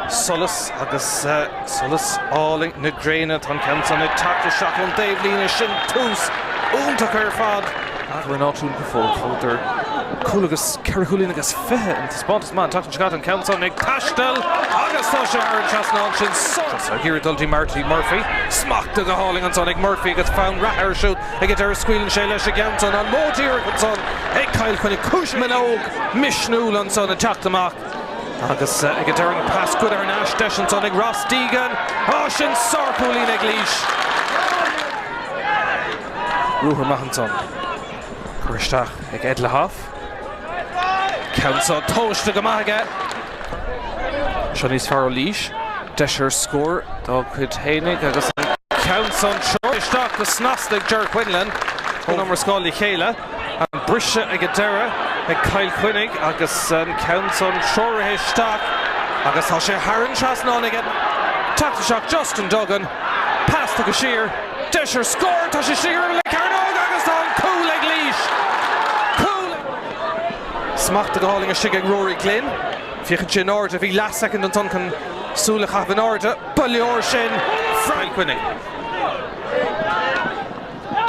Solas agus solas álainn na gréine. Tá an ceann san ag teacht isteach ón dtaobhlíne. Sin tús iontach ar fad. Eagrán áitiúil go fóill. Scóráladar cúl agus ceithre chúilín agus fiche i dtaispeántas maith an tseachtain seo caite. An ceann san ag taisteal agus tá sé thar an trasnán. Sin solas ag iarraidh dul go dtí Marty Murphy. Smachtaithe go hálainn ansan ag Murphy agus fonn reatha air siúd. Ag an deireadh scaoileann sé leis an gceann san. An modh díreach ansan ag Cill Chainnigh. Agus Manogue misniúil ansan ag teacht amach. Agus ag an deireadh an pas tugtha thar n-ais deis ansan ag Ross Deegan. Á sin sárchúilín ag Laois. Ruathar maith ansan. Cur isteach ag Ed Lauhoff. Ceann seo tomhaiste go maith aige. Seo níos fearr ó Laois. Deis ar scór dá cuid fhéinig agus an ceann san treoraithe isteach go snasta ag Ger Quinlan. Ón iomrascáil le chéile. An briseadh ag an deireadh ag Cill Chainnigh agus an ceann san treoraithe isteach agus tá sé thar an trasnán aige. Teacht isteach Justin Duggan, pas tugtha siar, deis ar scór, tá sé istigh ar an gcearnóg agus tá an cúl ag Laois. Cúl ag Laois. Smachtaithe go hálainn istigh ag Rory Glynn, féachann sé in airde, bhí leath soicind ansan chun súil a chaitheamh in airde, ba leor sin! Chill Chainnigh.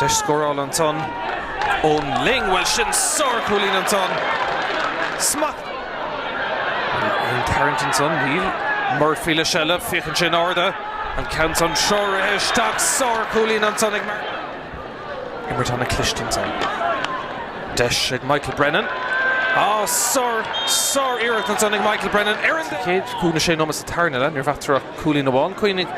Deis scórála ansan Eoghan Lyng. Bhuel sin sárchúilín ansan. Smacht. Ag tarraingt ansan, níl Murphy le seilbh. Féachann sé in airde. An ceann san treoraithe isteach. Sárchúilín ansan ag Martin. Imirt ana chliste ansan. Deis ag Michael Brennan. Á, sár, sár iarracht ansan ag Michael Brennan. Ar an gcéad cúig nó sé nóimeat sa tarna leath, ní raibh eatarthu ach. cúilín amháin. Coinnigh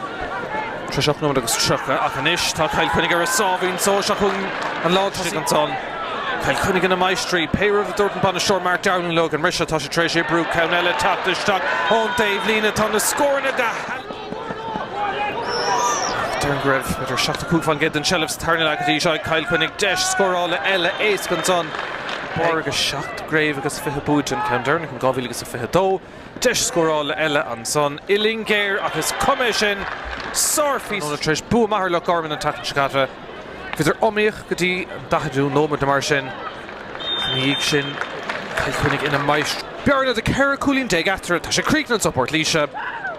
tar éis ocht nóiméad agus tríocha ach anois tá Cill Chainnigh ar a sáimhín só. Seo chugainn an lántosaí ansan. Cill Chainnigh ina máistrí. Pé rud a dúirt an bainisteoir Mark Dowling leo ag an mbriseadh, tá sé tar éis oibriú ceann eile, teacht isteach ón dtaobhlíne. Tá na scóranna go hannamh. Déarfainn go raibh b'fhéidir seachtó cúig fán gcéad den tseilbh sa tarna leath go dtí seo ag Cill Chainnigh. Deis scórála eile éasca ansan. Báire agus seacht gcraobh agus fiche buaite an ceann deireanach in 2022. Deis scórála eile ansan uillinn géar ach is cuma é sin, sárphíosa tráthnóna tar éis bua maith ar Loch Garman an tseachtain seo caite. Bhíodar iomaíoch go dtí an 40ú nóiméad nó mar sin ach ina dhiaidh sin Cill Chainnigh ina máistrí. Bearna de 14 cúilín eatarthu, tá sé críochnaithe anso i bPort Laoise,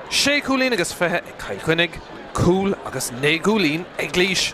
sé chúilín agus fiche ag Cill Chainnigh, cúl agus naoi gcúilín ag Laois.